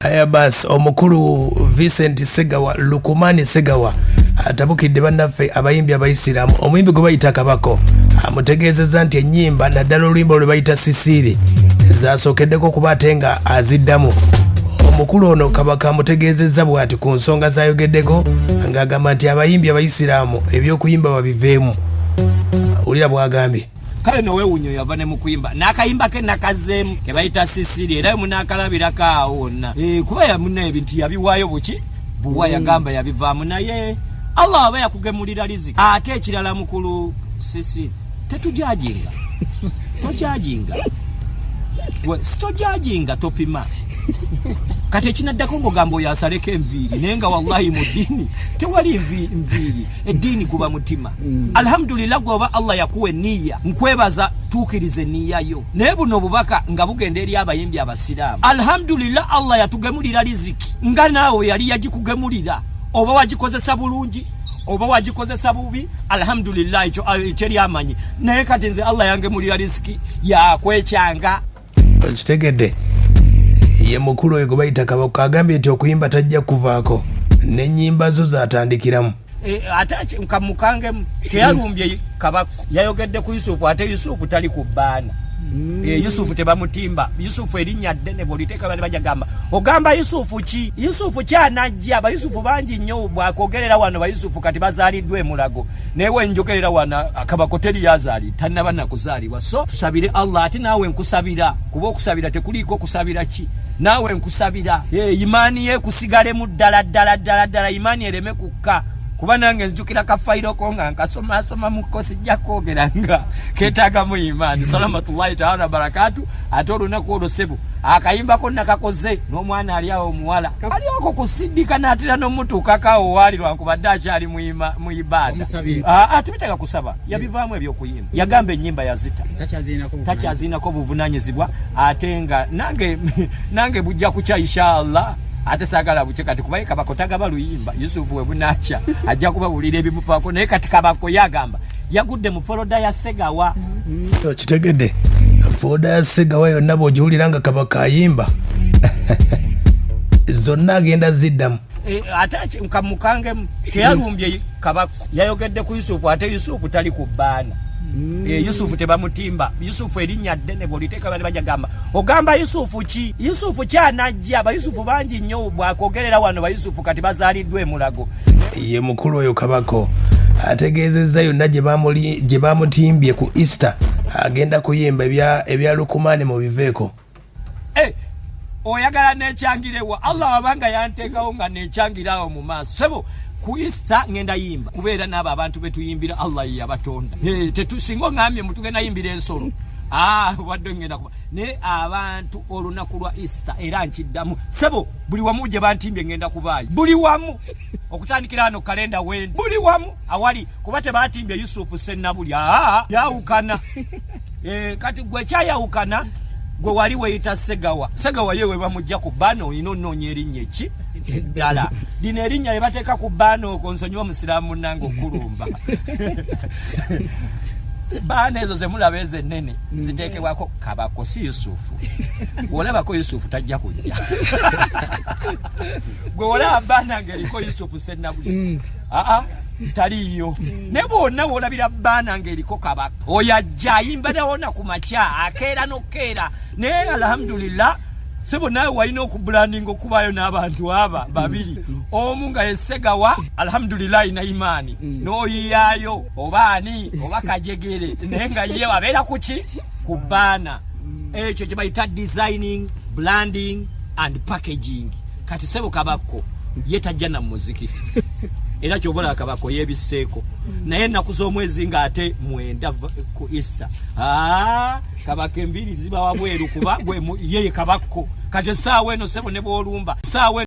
aya bas omukulu vincent segawa lukumani segawa atabukidde bannaffe abayimbi abayisiraamu omuyimbi gwe bayita kabako amutegeezezza nti ennyimba naddala oluyimba lwe bayita sisiiri zasookeddeko okuba ate nga aziddamu omukulu ono kabaka amutegeezezza bw'ati ku nsonga zayogeddeko ng'agamba nti abayimbi abayisiraamu eby'okuyimba babiveemu wulira bwagambye kale nowewunya yava ne mukuyimba nakayimba ke nakazeemu kebayita sisiri era munaakalabirako awo wonna eh, kuba yamuna ebintu yabiwaayo buki buwa mm. yagamba yabivaamu naye allah aba yakugemulira riziki ate ekirala mukulu sisiri tetujajinga tojajinga sitojajinga topima kati ekinaddako ngaogamba oyo asaleko enviiri naye nga wallahi mu ddiini tewali nviiri eddiini guba mutima Mm. alhamdulillah gwoba allah yakuwa eniya nkwebaza tuukiriza eniya yo naye buno obubaka nga bugenda eri abayimbi abasiraamu alhamdulillah allah yatugemulira riziki nga naawe yali yagikugemulira oba wagikozesa bulungi oba wagikozesa bubi alhamdulillah ekyo ah, ekyo lyamanyi naye kati nze allah yangemulira riziki yakwekyanga okitegedde ye mukulu oyo gwebayita kabaka agambye nti okuyimba tajja kuvaako nenyimba zo zatandikiramu e, ate kamukangemu teyalumbye kabaka yayogedde ku yusufu ate yusufu tali ku baana mm. e, yusufu tebamutimba yusufu erinnya ddene bwoliteeka bani bajagamba ogamba yusufu ki yusufu kyanajja bayusufu bangi nnyo bwakogerera wano bayusufu kati bazaaliddwa emulago naye wenjogerera wano akabako teri yazaali tannaba nakuzaali so tusabire allah ati naawe nkusabira kuba okusabira tekuliiko kusabira ki naawe nkusabira eh, imaani ye kusigalemu ddala ddala ddala ddala imaani ereme kukka kuba nange nzijukira kafayiro ko nga nkasomasoma muko sijja kwogera nga ketagamu imaani salamatullahi taala barakatu ate olunaku olwo sebo akayimbako nakakoze n'omwana ali awo omuwala ali oko kusidika natera nomutuukakawo waali lwankubadde akyali mu ibaada atubiteka ah, ah, kusaba yabivaamu ebyokuyimba yagamba enyimba yazita takyazirinako buvunanyizibwa ate nga nange nange bujja kukya inshallah ate sagala bukye kati kubaye kabako tagaba luyimba yusufu webunakya ajja kubawulira ebimufaako naye kati kabako yagamba yagudde mu foloda ya segawa mm-hmm. kitegedde foloda ya segawa yonna bwogiwulira nga kabaka ayimba zonna agenda ziddamu eh, ate kamukangemu teyalumbye kabako yayogedde ku yusufu ate yusufu tali ku baana mm. eh, yusufu tebamutimba yusufu erinnya ddene bwoliteeka bali bajagamba ogamba yusufu ki yusufu kyanajja bayusufu bangi nnyo bwakogerera wano bayusufu kati bazaaliddwa emulago ye mukulu oyo kabako ategeezezza yonna gye bamutimbye ku easter agenda kuyimba ebya lukumaani mu biveeko Eh, oyagala nekyangirewa allah wabanga yanteekawo nga nekyangirawo mu maaso sebo ku easter ngenda yimba kubeera naabo abantu betuyimbira allah yeyabatonda singa ongambye mutugenda yimbira ensolo ah, wadde ngenda kuba naye abantu olunaku lwa easter era nkiddamu sebo buli wamu gye bantimbye ngenda kubaayo buli wamu okutandikira hano kalenda wendi buli wamu awali kuba tebatimbye yusufu sennabuli ah, yawukana Eh, kati gwe kyayawukana gwe wali weyita segawa segawa yewe bamujja ku baana olina onoonya erinnya ki eddala lino erinnya lyebateeka ku baana okwo nsonyiwa omusiraamu munange okulumba baana ezo zemulaba ezo ennene mm. ziteekebwako kabako si yusufu olabako yusufu tajja kujja gwe olaba baana ngeriko yusufu senabuli mm. aa taliiyo naye bwonna wolabira baana ngaeriko kabaka oyo ajja ayimba nawona ku makya akeera nokukeera naye alhamdulillah sebo nawe walina okubulandinga okubayo n'abantu aba babiri omu nga yesegawa alhamdulilahi na imaani n'oyiyayo oba ani oba kajegere naye nga ye abeera kuki ku baana ekyo kye bayita designing blanding and packaging kati sebo kabakko ye tajja na muziki era kyobola kabako yebiseeko naye ennaku z'omwezi nga ate mwenda ku easter ah, kabaka embiri ziba wabweru kuba yeye kabakko kati esaawa eno sebo ne bwolumba saawa